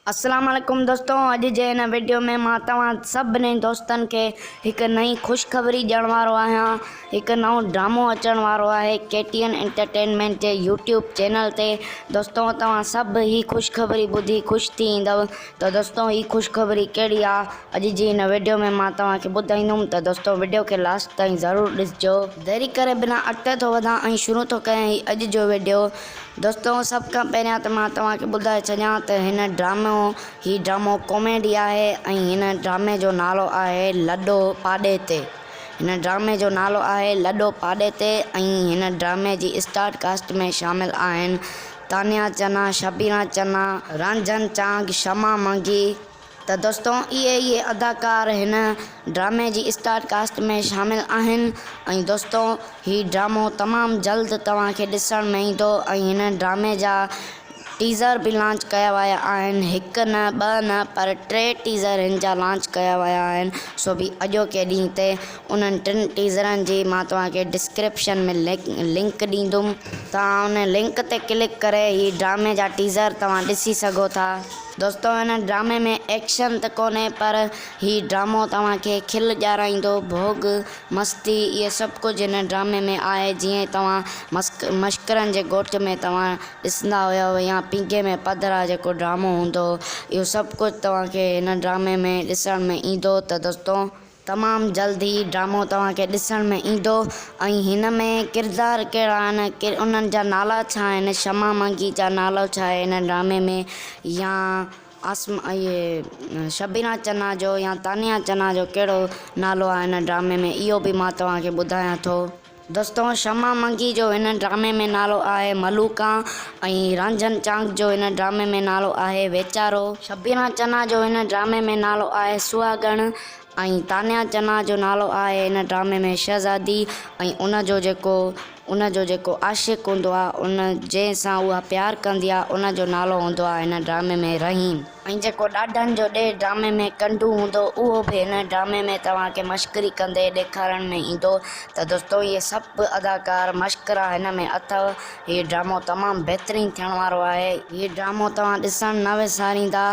السلام عليڪم دوستو اڄ جي هن وڊيو ۾ مان توهان سڀني دوستن کي هڪ نئين خوشخبري ڏيڻ وارو آهيان هڪ نئون ڊرامو اچڻ وارو آهي ڪي ٽي اين انٽرٽينمينٽ جي يوٽيوب چينل تي دوستو توهان سڀ هي خوشخبري ٻڌي خوش ٿي ايندؤ ته دوستو هي خوشخبري ڪهڙي آهي اڄ جي هن وڊيو ۾ مان توهان کي ٻڌائيندم ته دوستو وڊيو کي لاسٽ تائين ضرور ڏسجو ديري ڪري بنا اٽڪ ٿو وڌان ۽ شروع ٿو ڪريان هي اڄ جو وڊيو دوستو سڀ کان پهريان ته مان توهان کي ٻڌائي ڇڏيان ته هن ڊرامو هي ڊرامو ڪاميڊي آهي ۽ هن ڊرامي جو نالو آهي لڏو پاڏي تي هن ڊرامي جو نالو آهي لڏو پاڏي تي ۽ هن ڊرامي جي اسٽار ڪاسٽ ۾ شامل آهن تانيا چنا شبينا چنا رنجن چانگ شمع منگي ته دوستو اهي اهي اداڪار هن ڊرامي جي اسٽار ڪاسٽ ۾ شامل آهن ۽ دوستو هي ڊرامو تمام جلد توهان کي ڏسڻ ۾ ايندو ۽ هن ڊرامي جا ٽيزر به لانچ ڪيا ويا آهن هڪ نه ٻه نه پر ٽي ٽيزر هن جا لانچ ڪيا ويا آهن سو به اڄوڪي ڏينهن تي انهن ٽن ٽيزرن جي مان توهان کي ڊسڪرپشن ۾ لنڪ ڏيندم توهان ان لنڪ تي ڪلڪ ڪري هي ڊرامي جا ٽيزر توهان ڏسي سگهو ٿا. دوستو هن ڊرامي ۾ ايڪشن ته ڪونهي پر هي ڊرامو توهان کي کل ڄارائيندو ڀوڳ مستي اهي سڀ ڪجهه هن ڊرامي ۾ آهي جيئن توهان مشڪرن جي ڳوٺ ۾ توهان ڏسندا هيؤ يا پينگهي ۾ پڌرا جيڪو ڊرامو هوندو هو اهو سڀ ڪجهه توهان کي هن ڊرامي ۾ ڏسڻ ۾ ايندو ته دوستو تمام جلد هي ڊرامو توهان کي ڏسڻ ۾ ايندو ۽ هن ۾ ڪردار ڪهڙا آهن انهن جا نالا ڇا آهن شمع مانگي جا نالو ڇا آهي هن ڊرامي ۾ يا شبينا چنا جو يا تانيا چنا جو ڪهڙو نالو آهي هن ڊرامي ۾ اهو به مان توهان کي ٻڌايان ٿو. دستو شمع منگي جو هن ڊرامي ۾ نالو آهي ملوڪان ۽ رانجهن چانگ جو هن ڊرامي ۾ نالو آهي ويچارو. شبينا چنا جو هن ڊرامي ۾ نالو آهي سهاڳڻ ۽ تانيا چنا جو نالو آهي هن ڊرامي ۾ شهزادي ۽ ان جو جيڪو ان جو جيڪو عاشق هوندو آهي ان جنهن سان اها پيار ڪندي آهي ان جو نالو هوندو آهي هن ڊرامي ۾ رحيم. ۽ جيڪو ڏاڍن جو ڏيهه ڊرامي ۾ ڪنڊو هوندو اهو به هن ڊرامي ۾ توهان کي مشڪري ڪندي ڏيکارڻ ۾ ايندو ته دوستو اهي سڀ اداڪار مشڪرا هن ۾ اٿو هي ڊرامو تمام بهترين ٿيڻ وارو آهي هي ڊرامو توهان ڏسڻ نه وساريندا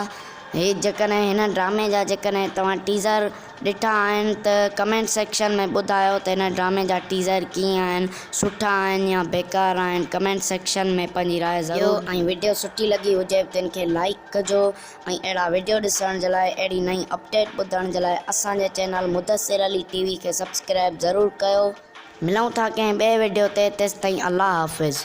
هي جيڪڏهن هن ڊرامي جا جيڪڏهن توهان ٽيزر. ڏٺا آهن ته ڪمينٽ سيڪشن ۾ ٻڌايو ته هن ڊرامي جا ٽيزر ڪيئن آهن سٺا آهن يا بيڪار آهن ڪمينٽ سيڪشن ۾ پنهنجي راء ضرور ڏيو ۽ وڊيو سٺي لڳي هجي به تن کي لائيڪ ڪجو ۽ اهڙا وڊيو ڏسڻ جي لاء اهڙي نئين اپڊيٽ ٻڌڻ جي لاء اسان جي channel Mudassir Ali T V کي سبسڪرائب ضرور ڪيو. ملون ٿا ڪنهن ٻئي وڊيو تي تيستائين الله حافظ.